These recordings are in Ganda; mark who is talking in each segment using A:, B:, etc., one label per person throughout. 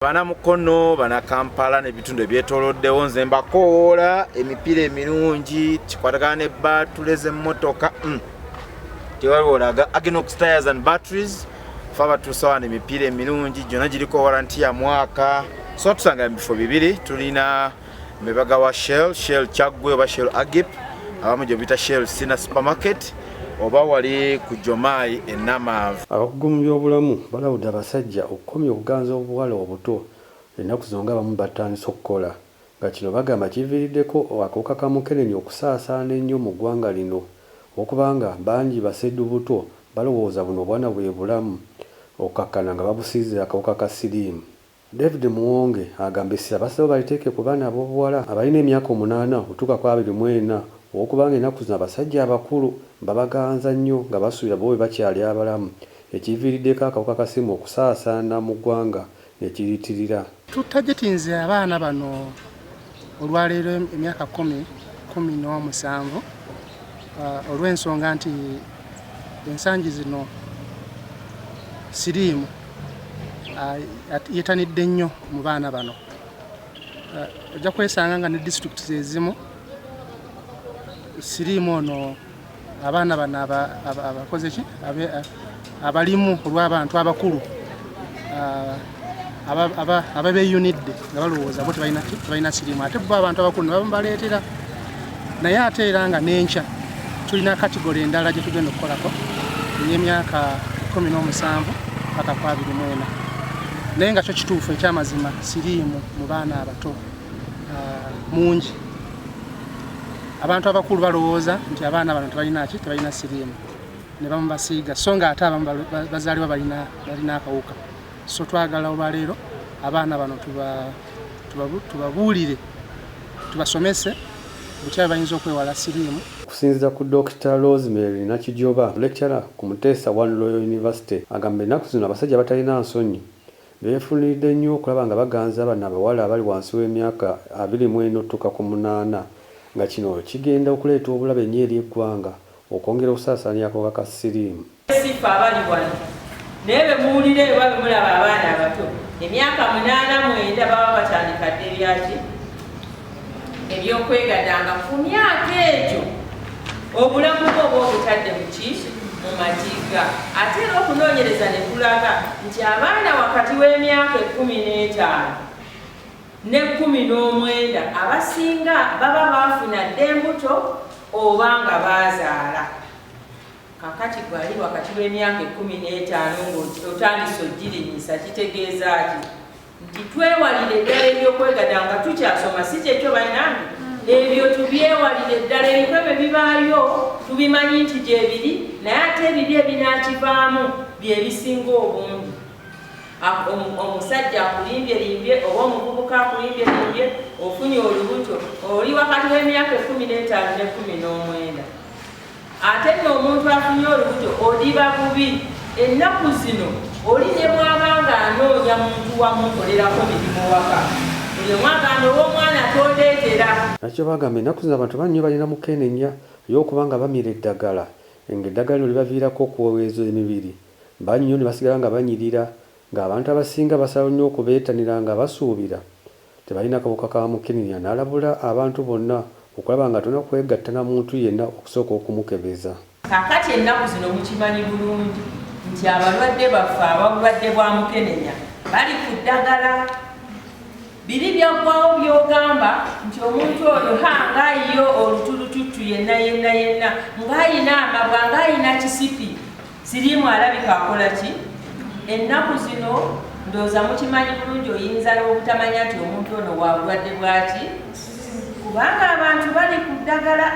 A: bana mukono bana kampala nebitundu ebyetoloddewo nze mbakowoola emipiira emirungi kikwatagana ne batule zemotoka mm. tewaliwolaga agenox tires and batteries fe abatuusawana emipiira emirungi gyona giriko waranti ya mwaka so tusanga mubifo bibiri tulina Mbebaga wa Shell, Shell Chagwe oba Shell Agip, abamu gye bita Shell Sina Supermarket oba wali ku Jomayi e Namanve. Abakugu mu byobulamu
B: balabudde abasajja okukomya okuganza obuwala obuto ennaku zino ng'abamu batandise okukola nga kino bagamba kiviiriddeko akawuka ka mukenenya okusaasaana ennyo mu ggwanga lino okuba nga bangi basedu buto balowooza buno obwana bwe bulamu okukkakkana nga babusiize akawuka ka siriimu. David Muwonge agamba essira basazeewo baliteeke ku baana ab'obuwala abalina emyaka omunaana okutuuka ku abiri mu ena olw'okubanga ennaku zino abasajja abakulu babaganza nnyo nga basuubira bo bwe bakyali abalamu ekiviiriddeko akawuka ka siriimu okusaasaana mu ggwanga ne kiriitirira Tutagetinze
C: abaana bano Olwaleero emyaka kumi kumi n'omusanvu uh, olw'ensonga nti ensangi zino siriimu uh, yetanidde nnyo mu baana bano uh, ojja kwesanga nga ne disitulikiti zezimu siriimu ono abaana bano abakoze ki abalimu olw'abantu abakulu ababeyunidde nga balowooza bo tebalina sirimu ate bo abantu abakulu nebabaleetera naye ate era nga nenkya tulina katigola endala gye tugenda okukolako ey'emyaka kumi n'omusanvu paka ku abiri mwena naye nga kyo kituufu ekyamazima siriimu mu baana abato ah, mungi abantu abakulu balowooza nti abaana bano tebalina ki tebalina siriimu ne bamu basiiga so nga ate abamu bazaalibwa balina akawuka so twagala olwaleero abaana bano tubabuulire tubasomese butya bwe bayinza okwewala siriimu okusinziira ku Dokita
B: Rosemary Nakijoba lecturer ku Muteesa One Royal University agamba ennaku zino abasajja batalina nsonyi Beefunidde nnyo okulaba nga baganza bano abawala abali wansi w'emyaka abiri mu ena okutuuka ku munaana nga kino kigenda okuleeta obulabe nnyo eri eggwanga okwongera okusaasaanya akawuka ka siriimu. Si ffe abali
D: wano naye be muwulira eyo oba be mulaba abaana abato emyaka munaana mwenda baba batandika dda ebyaki? ebyokwegadanga ku myaka egyo obulamu bwo oba obutadde muki mu matiga ate era okunoonyereza ne kulaga nti abaana wakati w'emyaka ekkumi n'etaano ne kkumi n'omwenda abasinga baba baafuna dda embuto oba nga baazaala kakati gwali wakati w'emyaka ekkumi n'etaano ngaotandise ojirinyisa kitegeeza ki nti twewalire eddala ebyokwegata nga tukyasoma si kyekyo banange ebyo tubyewalire eddala ebiko ebyo bibaayo tubimanyi nti gyebiri naye ate ebibi ebinakivaamu byebisinga obungi omusajja akulimbye limbye oba omuvubuka akulimbye limbye ofunye olubuto oli wakati w'emyaka ekumi n'etaano n'ekumi n'omwenda Ate nno omuntu afunye olubuto odiba bubi. Ennaku zino oli ne bw'aba ng'anoonya muntu wa mukolerako mirimu waka, buli omu agamba ow'omwana tondeetera. Nakyo bagamba
B: ennaku zino abantu bannyo balina mukenenya ye okuba nga bamira eddagala ng'eddagala lino libaviirako okuweweeza emibiri bannyo ne basigala nga banyirira ng'abantu abasinga basalawo nnyo okubeetanira nga basuubira tebalina kawuka ka mukenenya n'alabula abantu bonna okulaba nga tolina kwegatta na muntu yenna okusooka okumukebeza. Kaakati ennaku
D: zino mukimanyi bulungi nti abalwadde baffe ababulwadde bwa mukenenya bali ku ddagala, biri byaggwawo by'ogamba nti omuntu oyo ha nga yo olutulututtu yenna yenna yenna ng'alina amabwa ng'alina kisipi. Siriimu alabika akola ki ennaku zino? Ndowooza mukimanyi bulungi oyinza n'obutamanya nti omuntu ono wa bulwadde bwaki, kubanga abantu bali ku ddagala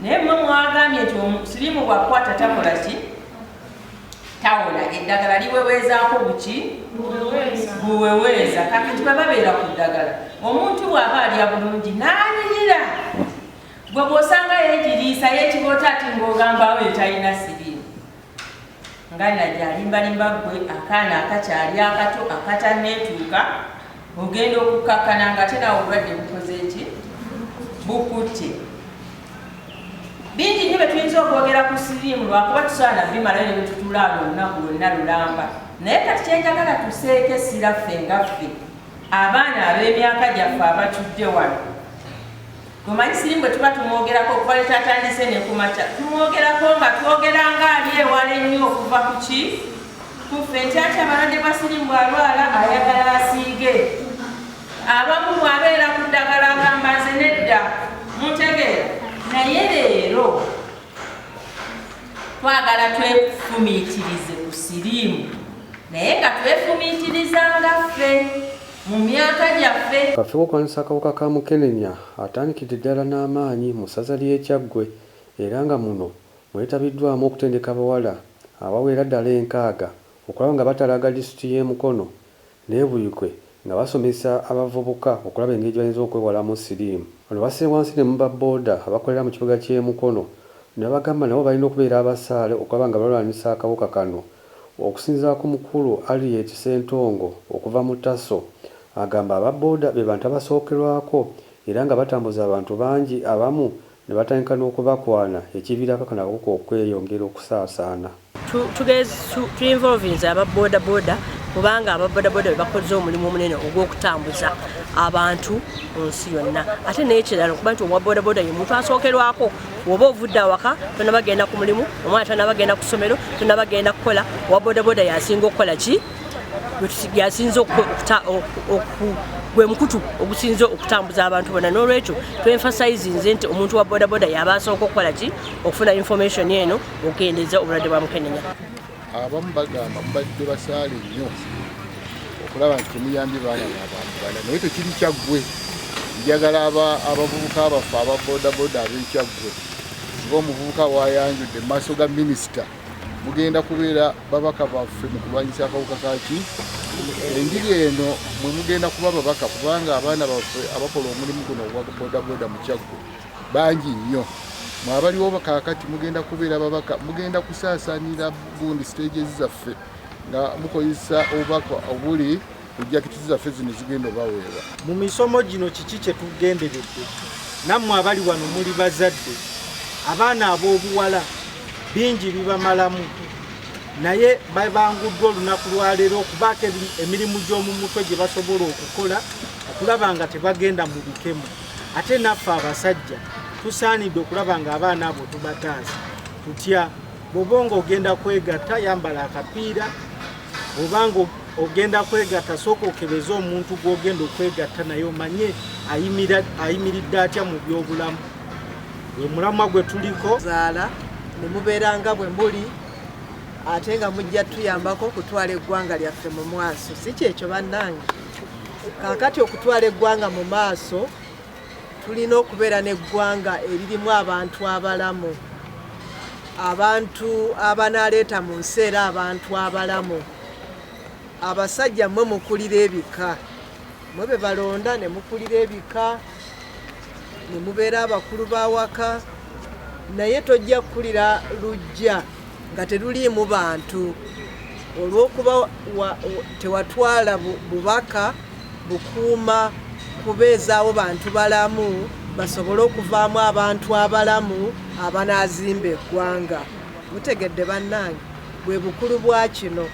D: naye mwe mwagambye nti siriimu bwakukwata takola ki tawola eddagala liweweezaako buki buweweeza kakati baba beera ku ddagala omuntu bw'aba alya bulungi n'anyirira Gwe bw'osanga yeegiriisa yeekiboota ati ng'ogambaawo etalina siriimu nga najja alimbalimba ggwe akaana akakyali akato akatanneetuuka ogenda okukkakkana nga ate nawe obulwadde bukoze ki bukutte bingi nyo byetuyinza okwogera ku siriimu lwakuba tusobola nabimalayo ne bwetutulaala olunaku lwonna lulamba naye kati kyenjagala tuseeko essira ffe nga ffe abaana ab'emyaka gyaffe abatudde wano Omanyi sirimu bwe tuba tumwogerako okuva lwe kyatandise ne ku makya tumwogerako nga twogera nga ali ewala ennyo okuva ku ki ku ffe ntyakya abalwadde bwa sirimu bw'alwala ayagala asiige abamu bw'abeera ku ddagala agamba nze nedda mutegeera naye leero twagala twefumiitirize ku sirimu naye nga twefumiitiriza nga ffe mu myaka gyaffe. Kafewo okulwanyisa akawuka
B: ka mukenenya atandikidde ddala n'amaanyi mu ssaza ly'e Kyaggwe era nga muno mwetabiddwamu okutendeka abawala abawera ddala enkaaga okulaba nga batalaaga disitulikiti y'e Mukono n'e Buikwe nga basomesa abavubuka okulaba engeri gye bayinza okwewalamu siriimu. Bano basse wansi ne mu ba boda abakolera mu kibuga ky'e Mukono ne babagamba nabo balina okubeera abasaale okulaba nga balwanyisa akawuka kano. Okusinzira ku mukulu Harriet Ssentongo okuva mu TASO, agamba aba boda be bantu abasookerwako era nga batambuza abantu bangi abamu ne batandika n'okubakwana ekiviirako kano akawuka okweyongera okusaasaana. Tu involvinze
E: aba boda boda kubanga aba boda boda be bakoze omulimu omunene ogw'okutambuza abantu mu nsi yonna ate n'ekirala okuba nti owa boda boda ye muntu asookerwako woba ovudde awaka tonaba genda ku mulimu omwana tanaba genda ku ssomero tonaba genda kukola owa bodaboda yasinga okukola ki yasinza gwe mukutu ogusinza okutambuza abantu bona n'olwekyo twenfasize nze nti omuntu wa bodaboda yaba asooka okukola ki okufuna information eno okukendeeza obulwadde bwa mukenenya Abamu
F: bagamba mubadde basaale nnyo okulaba nti temuyambye baana nabantu bana naye tekiri kyaggwe njagala abavubuka baffe aba bodaboda abekyaggwe nga omuvubuka wayanjudde mu maaso ga minisita mugenda kubeera babaka baffe mu kulwanyisa akawuka kaki enjiri eno mwe mugenda kuba babaka kubanga abaana baffe abakola omulimu guno ogwa bodaboda mu kyaggwe Bangi nnyo mwe abaliwo kaakati mugenda kubeera babaka, mugenda kusaasaanira gundi siteegi zaffe nga mukozesa obubaka obuli ku jaketi zaffe zino zigenda obaweebwa. Mu misomo gino
G: kiki kye tugenderedde? Nammwe abali wano muli bazadde, abaana ab'obuwala bingi bibamalamu naye babanguddwa olunaku lwaleero okubaako emirimu gy'omu mutwe gye basobola okukola okulaba nga tebagenda mu bikemu. ate naffe abasajja tusaanidde okulaba nga abaana abo tubataasa tutya bwoba nga ogenda kwegatta yambala akapiira obanga ogenda kwegatta sooka okebeze omuntu gwogenda okwegatta naye omanye ayimiridde atya mu byobulamu we mulamwa gwe tuliko zaala
H: ne mubeera nga bwe muli ate nga mujja tuyambako okutwala eggwanga lyaffe mu mwaso si kyekyo bannange kaakati okutwala eggwanga mu maaso tulina okubeera n'eggwanga eririmu abantu abalamu abantu abanaleeta mu nsi era abantu abalamu abasajja mwe mukulira ebika mwe be balonda ne mukulira ebika ne mubeera abakulu b'awaka naye tojja kukulira lujja nga teruliimu bantu olw'okuba tewatwala bubaka bukuuma kubeezaawo bantu balamu basobole okuvaamu abantu abalamu abanaazimba eggwanga mutegedde bannange bwe bukulu bwa kino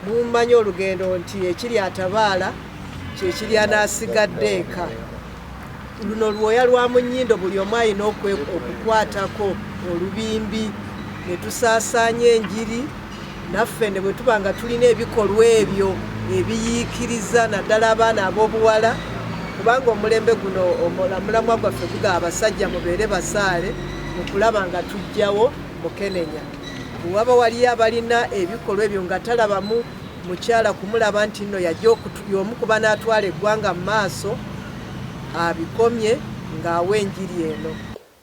H: mummanyi olugendo nti ekiri atabaala kyekiri anaasigadde eka Luno lwoya lwa mu nnyindo buli omu alina okukwatako olubimbi ne tusaasaanya enjiri naffe ne bwe tuba nga tulina ebikolwa ebyo ebiyiikiriza naddala abaana ab'obuwala kubanga omulembe guno omulamwa gwaffe guga abasajja mubeere basaale mu kulaba nga tujjawo mukenenya waba waliyo abalina ebikolwa ebyo nga talabamu mukyala kumulaba nti nno yajja y'omu ku banaatwala eggwanga mu maaso abikomye ng'awa enjiri eno.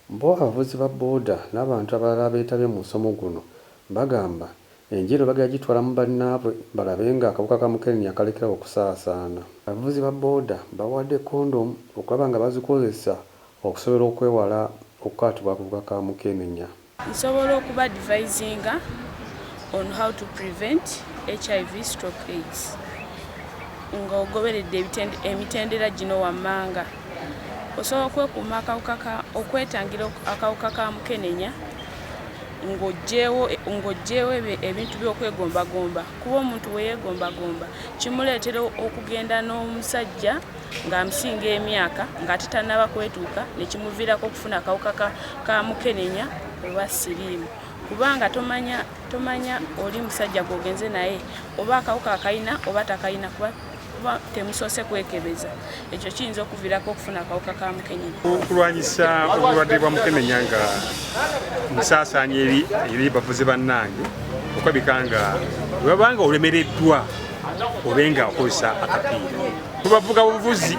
H: Bo abavuzi
B: ba boda n'abantu abalala abeetabye mu musomo guno bagamba enjiri eno bagenda gitwala mu bannaabwe balabe ng'akawuka ka mukenenya kalekerawo okusaasaana. Abavuzi ba boda bawadde kondomu okulaba nga bazikozesa okusobola okwewala okukwatibwa akawuka ka mukenenya. Nsobola okuba
I: advisinga on how to prevent HIV stroke AIDS ng'ogoberedde emitendera gino wammanga. Osobola okwekuuma akawuka ka okwetangira akawuka ka mukenenya ng'oggyewo ebintu by'okwegombagomba kuba omuntu bwe yeegombagomba kimuleetera okugenda n'omusajja ng'amusinga emyaka ng'ate tannaba kwetuuka ne kimuviirako okufuna akawuka ka mukenenya oba siriimu kubanga tomanya tomanya oli musajja gwogenze naye oba akawuka akalina oba takalina kuba kuba temusoose kwekebeza ekyo kiyinza okuvirako okufuna akawuka ka mukenenya okulwanyisa
J: obulwadde bwa mukenenya nga musaasaanya eri eri bavuzi bannange okwabika nga webabanga olemereddwa obe nga okozesa akapiira tubavuga buvuzi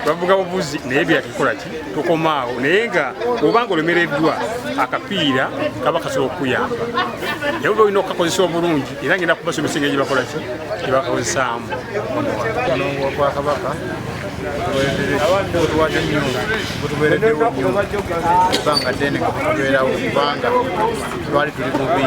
J: bavuga buvuzi naye byatukola ki tukomaawo naye nga obanga olemereddwa akapiira kaba kasobola okukuyamba naye oba olina okukakozesa obulungi era ngenda kubasomesa engeri gyebakola ki gyebakakozesaamu onoongo
K: wa bwakabaka tuwadde nnyo butubeereddewo nnyo ebbanga ddene nga tubeerawo kubanga twali tuli bubi